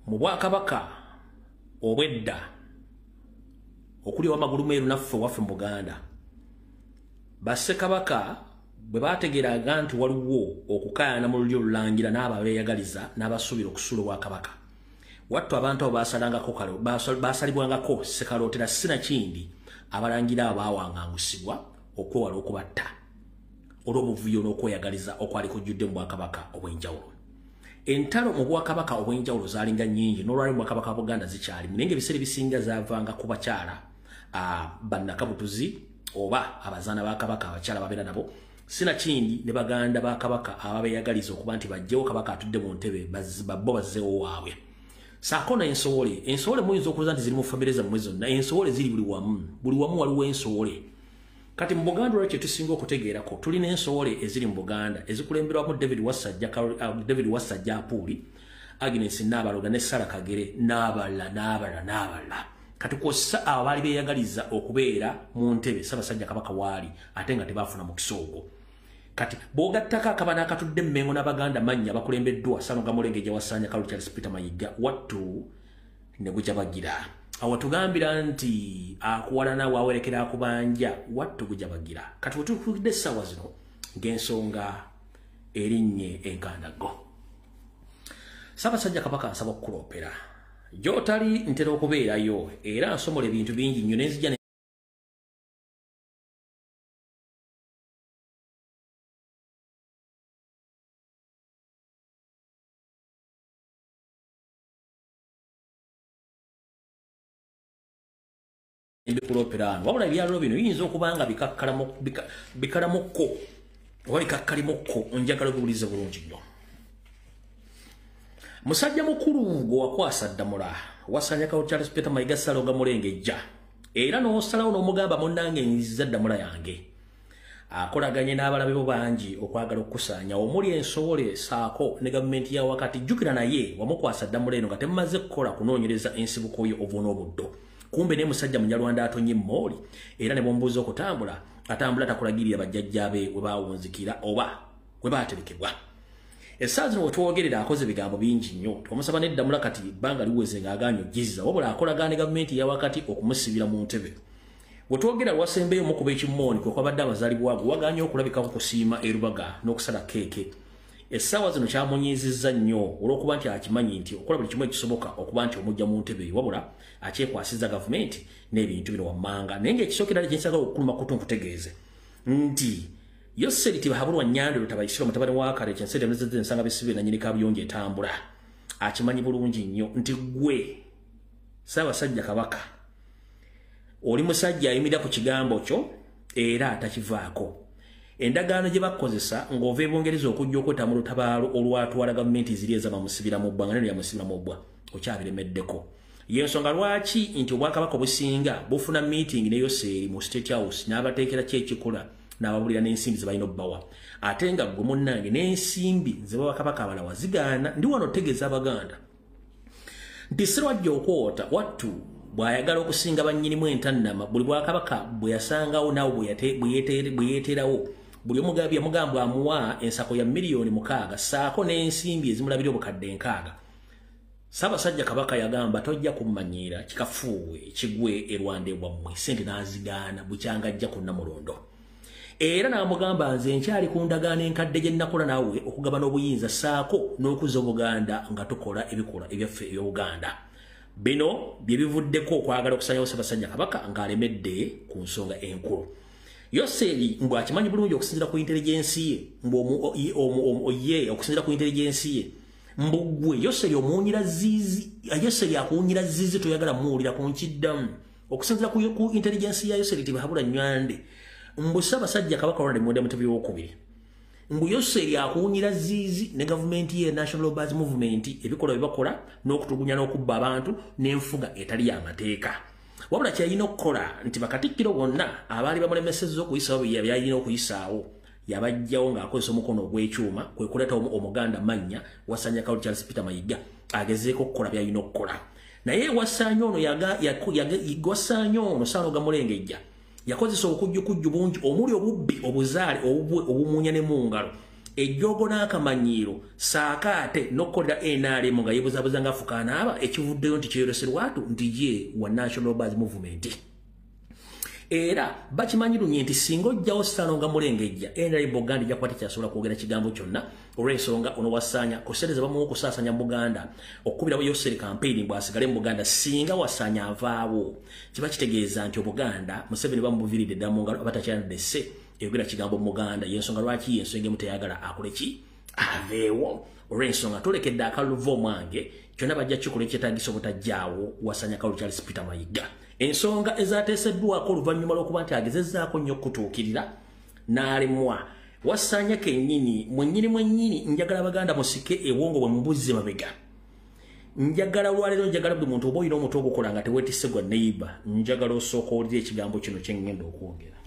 mu bwakabaka obwedda okuli owamagulu meeru naffe waffe mu buganda bassekabaka bwe bategeeraga nti waliwo okukaayana mu lulyo olulangira n'abo abeeyagaliza n'abasuubira okusuula obwakabaka wattu abantu abo basalangako kalo basalibwangako sekalootera sinakindi abalangira abo baawangangusibwa okwewala okubatta olw'obuvuyo n'okweyagaliza okwali kujjudde mu bwakabaka obw'enjawulo entalo mu bwakabaka obw'enjawulo zaalinga nnyingi n'olwali mu bwakabaka wa buganda zikyalimu naye ngaebiseera ebisinga zaavanga ku bakyala bannakabutuzi oba abazaana ba kabaka abakyala babeera nabo sinakindi ne baganda ba kabaka ababeyagaliza okuba nti bajjewo kabaka atudde mu ntebe babbo bazzewo waabwe saako nensowole ensowole muyinza okuza nti ziri mu famire zammwe zonna ensowole ziri buli wamu buli wamu waliwo ensowole kati mu buganda olwa kyetusinga okutegeerako tulina ensowole eziri mu buganda ezikulemberwamu david wasajja uh, david wasajja apuuli agnes naabaloga ne sara kagere n'abalala n'abalala n'abalala kati kwossa abo baali beeyagaliza okubeera mu ntebe ssabasajja kabaka waali ate nga tebaafuna mukisa ogwo kati bwogattako akaba n'akatudde emmengo n'abaganda mannya bakulembeddwa sanoga mulenge gye wasaanya kalu charles peter mayigga wattu ne gukya bagira awo tugambira nti akuwalana wawerekera akubanja wattu gukya bagira kati wetukulidde essaawa zino ng'ensonga erinnye enkandaggo sabasajja kabaka nsaba okukulopera gyotali ntera okubeerayo era nsomola ebintu bingi nnyo nenzija ebikulooperaano wabula ebyaliro bino biyinza okuba nga bikalamukko oba bikakkalimukko njagala obiwulize bulungi nnyo musajja mukulu gwe wakwasa ddamula wasanyakawo charles peter mayiga saloga mulengejja era n'osalawo n'omugamba munnange nziza ddamula yange akolaganye n'abalabe bo bangi okwagala okukusaanya omuli ensobola esaako ne gavumenti ya wakati jjukira naye wamukwasa ddamula eno nga temumaze kukola kunoonyereza ensibuko yo obuuna obuddo kumbe naye musajja munyarwanda atonye mooli era ne bwombuuza okutambula atambula takulagirira bajjajja be we baawunzikira oba we baaterekebwa essaawa zino we twogerera akoze ebigambo bingi nnyo omusaba neddamula kati ebbanga liweze ng'agaanyi ojjizza wabula akolagaane gavumenti ya wakati okumusibira mu ntebe wetwogera wasembeyo mukuba ekimooni kwekwabadde abazalibwa ago waganye okulabikako kusiima erubaga n'okusala keeke essaawa zino kyamunyiizizza nnyo olw'okuba nti akimanyi nti okola buli kimu ekisoboka okuba nti omujja mu ntebe wabula akyekwasiza gavumenti n'ebintu bino wammanga naye ngaekisookera li kyensaga okukuluma kutu nkutegeeze nti yoseri tibahabulwa nyandiro tabaisiro mutabani wa kare kyensi temezeze nsanga bisibe na nyini kabiyonje etambula akimanyi bulungi nnyo nti gwe saba sajja kabaka oli musajja ayimira ku kigambo kyo era atakivaako endagaano gye bakukozesa ng'ova ebungereza okujja okweta mu lutabaalo olwatwala gavumenti ziri ezabamusibira mu bbwa nga neno yamusibira mu bbwa okyabiremeddeko yensonga lwaki nti obwakabaka obusinga bufuna meeting ne yoseeri mu state house n'abateekera ki ekikola n'ababulira n'ensimbi zebalina obbawa ate nga gwe munnange n'ensimbi zebabakabaka abalawa zigaana ndi wano otegeeza abaganda nti sirwajja okwota wattu bw'ayagala okusinga bannyinimu entannama buli bwakabaka bwe yasangawo naawe bwe yeeteerawo buli omugabi yamugambwa amuwa ensako ya miliyoni mukaaga saako n'ensimbi ezimulabira obukadde enkaaga Sabasajja kabaka yagamba tojja kummanyiira kikafuuwe kigwe erwande bwammwe sente n'azigaana bukyanga ajja kunna mulondo era n'amugamba nze nkyali ku ndagaano enkadde gye nnakola naawe okugabana obuyinza saako n'okuza obuganda nga tukola ebikola ebyaffe eby'obuganda bino bye bivuddeko okwagala okusanyawo ssabasajja kabaka ng'alemedde ku nsonga enkulu yoseeri mbu akimanyi bulungi okusinzira ku intelligensi ye mbu ye okusinzira ku intelligensi ye mbu gwe yoseeri omuwunyira ziizi yoseeri akuwunyira ziizi toyagala muwulira ku nkiddamu okusinzira ku intelligence ya yoseri tibahabura nywande mbu ssabasajja kabaka ronald mwenda mutebi wokubiri mbu yoseri akuwunyira ziizi ne gavumenti ye national lobers movement ebikolwa byebakola n'okutugunya n'okubba abantu n'enfuga etali y'amateeka wabula kyeyalina okukola nti bakatikkiro bonna abaali bamulemesezza okuyisaawo byeyalina okuyisaawo yabajjawo ng'akozesa omukono ogw'ekyuma kwe kuleeta omuganda mannya wasanya kawuli charles peter mayiga agezeeko okukola byalina okukola naye wasanya ono wasaanya ono saano gamulengejja yakozesa obukujjukujju bungi omuli obubbi obuzaale obumunya ne mu ngalo ejjoogo n'akamanyiiro saako ate n'okukolera nrm nga yebuzabuza ng'afukaanaaba ekivuddeyo nti kyeyoleserwatu nti ye wa national bas movement era bakimanyi lunye nti singa ojjawo sitano nga mulengejja nri buganda jakuba tekyasobola kwogera kigambo kyonna olw'ensonga ono wasaanya kusereza bamuwa okusaasanya mu buganda okukubirawo yoseri kampeyini bwasigale mu buganda singa wasaanya avaawo kiba kitegeeza nti obuganda museveni bamubuviridde ddala mu ngalo abatakyanadde se eyogera kigambo mu buganda yensonga lwaki yensonga emu teyagala akole ki aveewo olw'ensonga tolekedde akaluva omwange kyonna bajja kikola ekyetagisa obutajjaawo wasanya kalu charles peter mayiga ensonga ezateeseddwako oluvannyuma lw'okuba nti agezezaako nnyo okutuukirira n'alemwa wasanya kennyini mwennyini mwennyini njagala baganda musike ewongo bwe mubuzze mabega njagala olwaleero njagala buli muntu oba olina omutu ogukola nga tewetise gwa neiba njagala osooka olira ekigambo kino kyengenda okwogera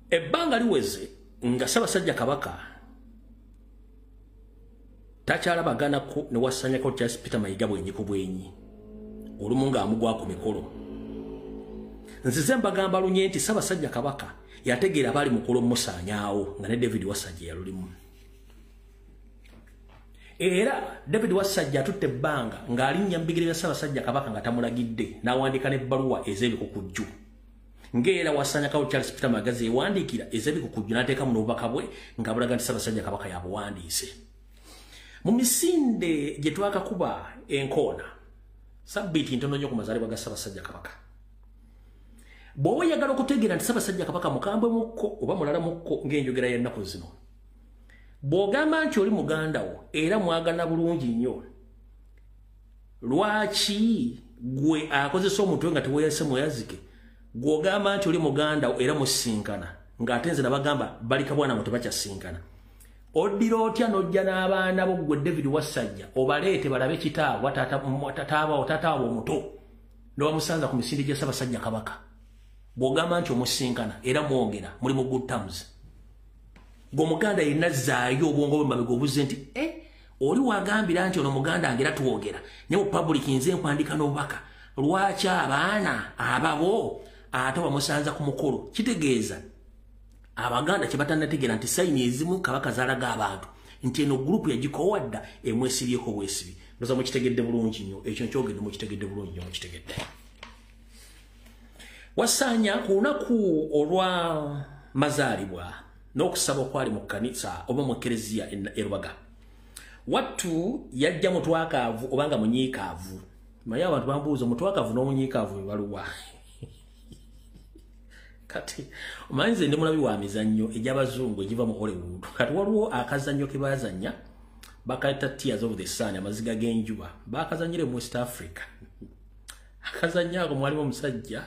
ebbanga liweze nga ssabasajja kabaka takyalabaganako ne wasanyako charles peter mayiga bwenyi ku bwenyi olumu ng'amugwa ku mikolo nzize mbagamba lunye nti ssabasajja kabaka yategeera baali mukolo musaanyaawo nga ne david wasajja yalulimu era david wassajja atutte ebbanga ng'alinnya mu bigere bya ssaabasajja kabaka nga tamulagidde n'awandiika n'ebbaluwa ez'ebikukujju ng'era wasanyakawo charles peter magazi ewandiikira ez'ebikukujju n'ateeka mu n'obubaka bwe nga bulaga nti ssaabasajja kabaka yabuwandiise mu misinde gye twakakuba enkoona sabbiiti ntono nnyo ku mazaalibwa ga ssaabasajja kabaka bw'oba oyagala okutegeera nti ssaabasajja kabaka mukambwe mukko oba mulala mukko ng'enjogera y'ennaku zino bw'ogamba nti oli muganda wo era mwagana bulungi nnyo lwaki gwe akozesa omutwe nga teweyase mweyazike gw'ogamba nti oli muganda wo era musinkana ng'ate nze nabagamba balika bwana ngo tebakyasinkana oddira otya n'ojja n'abaana bo ggwe david wassajja obaleete balabe kitaabwa taataabawo taataawo omuto nobamusanza ku misinde gya ssabasajja kabaka bw'ogamba nti omusinkana era mwogera muli mu good terms ng'omuganda yenna zaayo obwongo bwe mabega obuze nti e oli wagambira nti ono muganda ngera twogera naye mu public nze nkwandika n'obubaka lwaki abaana ababo ate wamusanza ku mukolo kitegeeza abaganda kye batanategeera nti sayini ezimu kabaka zaalaga abantu nti eno gurupu yagikoowa dda emwesibyeko bwesibi ndoza mukitegedde bulungi nnyo ekyo nkyogedde mukitegedde bulungi nnyo mukitegedde wasaanya ku lunaku olwa mazaalibwa n'okusaba okwali mu kkanisa oba mu kereziya erubaga wattu yajja mutwakaavu oba nga munyiikaavu maye abantu bambuuza omutwakaavu n'omunyiikaavu bebaluwa kati omanyi nze ndi mulabi wa mizannyo egy'abazungu egiva mu hollywood kati waliwo akazannyo ke bazannya bakayita tears of the sun amaziga g'enjuba bakazanyire mu west africa akazannyo ako mwalimu omusajja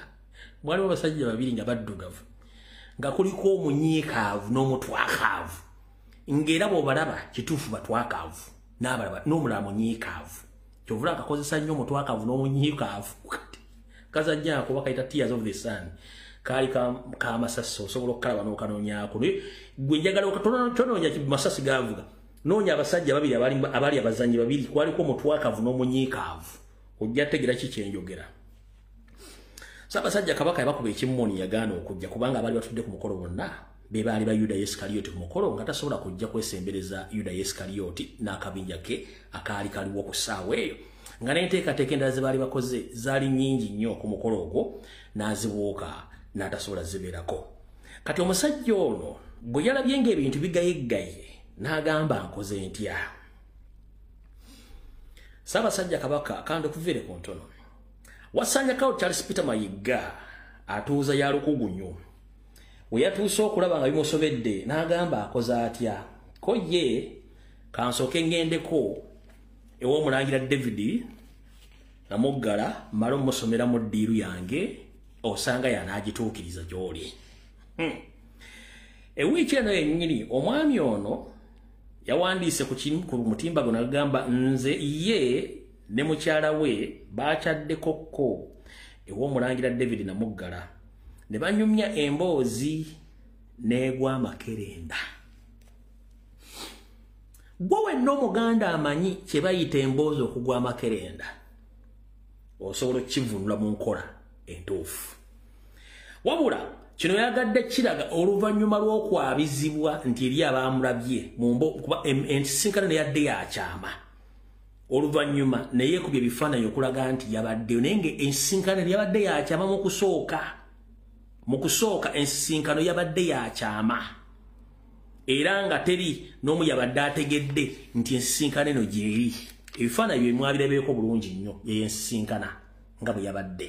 mwalimu abasajja babiri nga baddugavu nga kuliko omunyiikaavu n'omutwakaavu ng'era bw'obalaba kituufu batwakaavu n'abalaba n'omulala munyiikaavu kyovula akakozesa nnyo omutwakaavu n'omunyiikaavu kati kazannyo ako bakayita tears of the sun kaali kamasasi osobola okukalaba n'okanonyaako naye gwe njagala okatononya masasi gavuga noonya abasajja babiri abaali abazannyi babiri kwaliko omutwakaavu n'omunyiikaavu ojja tegera kikyenjogera sabasajja kabaka yabakuba ekimoni yagaana okujja kubanga abaali batudde ku mukolo bonna be baali ba yuda yesikaliyoti ku mukolo nga tasobola kujja kwesembereza yuda yesikaliyoti n'akabinja ke akaali kaliwo ku ssaawa eyo nga n'enteekateeka endala ze baali bakoze zaali nnyingi nnyo ku mukolo ogwo n'azibuuka n'atasobola zibeerako kati omusajja ono bwe yalabye ng'ebintu bigayeggaye n'agamba nkoze ntya Ssaabasajja Kabaka kanda okuviire ku ntono wasanjakawo Charles Peter Mayigga atuuza ya lukugunyu we yatuuse okulaba nga bimusobedde n'agamba akoze atya ko ye kansooke ngendeko ew'omulangira David namuggala mala omusomera mu ddiiru yange osanga yanaagituukiriza gy'oli hmm. ewiiki eno yennyini omwami ono yawandiise ku kimu ku mutimba guno agamba nze ye ne mukyala we baakyaddekokko ew'omulangira david namuggala ne banyumya emboozi n'egwa amakerenda gwe wenna omuganda amanyi kye bayita emboozi okugwa amakerenda osobola okukivunula mu nkola entuufu wabula kino yagadde kiraga oluvannyuma lw'okwabizibwa nti eri abaamulabye mumbo kuba ensisinkano neyadde yakyama oluvannyuma naye kubye ebifaananyi okulaga nti yabaddeyo naye nga ensisinkano yabadde yakyama mu kusooka mu kusooka ensisinkano yabadde yakyama era nga teri n'omu yabadde ategedde nti ensisinkano eno gyeri ebifaananyi bye mwabirabeeko bulungi nnyo yeyo ensisinkana nga bwe yabadde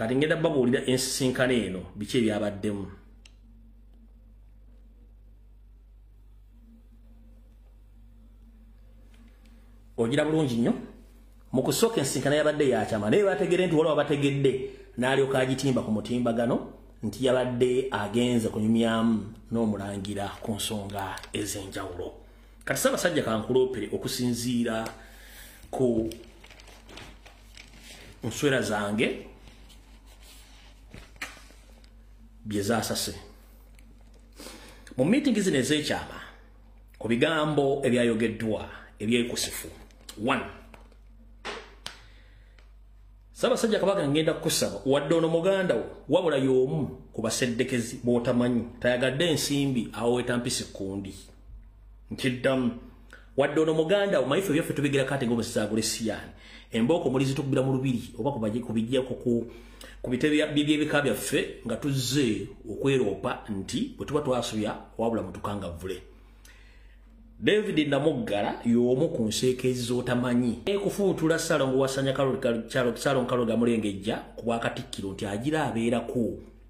kati ngenda babuulira ensisinkano eno biki ebyabaddemu ogira bulungi nnyo mu kusooka ensisinkano yabadde yakyama naye bategere nti waliwo abategedde n'alyoka agitimba ku mutimbagano nti yabadde agenze kunyumyamu n'omulangira ku nsonga ez'enjawulo kati sabasajja kankuloopere okusinziira ku nswera zange bye zaasase mu miitingi zino ez'ekyama ku bigambo ebyayogeddwa ebyekusifu one sabasajja kabaka ngenda kukusaba wadde ono muganda wo wabula y'omu ku baseddekezi b'otamanyi tayagadde ensimbi awo wetampisi kundi nkiddamu wadde ono muganda omanyi ffe byaffe tubigera kate ngaomusezi agula esiyaani embooko muli zitukubira mu lubiri oba kubijjako ku bitebe byebika byaffe nga tuzze okweroopa nti bwe tuba twasobya wabula mutukangavvule david namuggala y'omu ku nseekeezi z'otamanyi ekufuutula salongo wasanya salongo kaloga mulengejja ku bwakatikkiro nti agira abeerako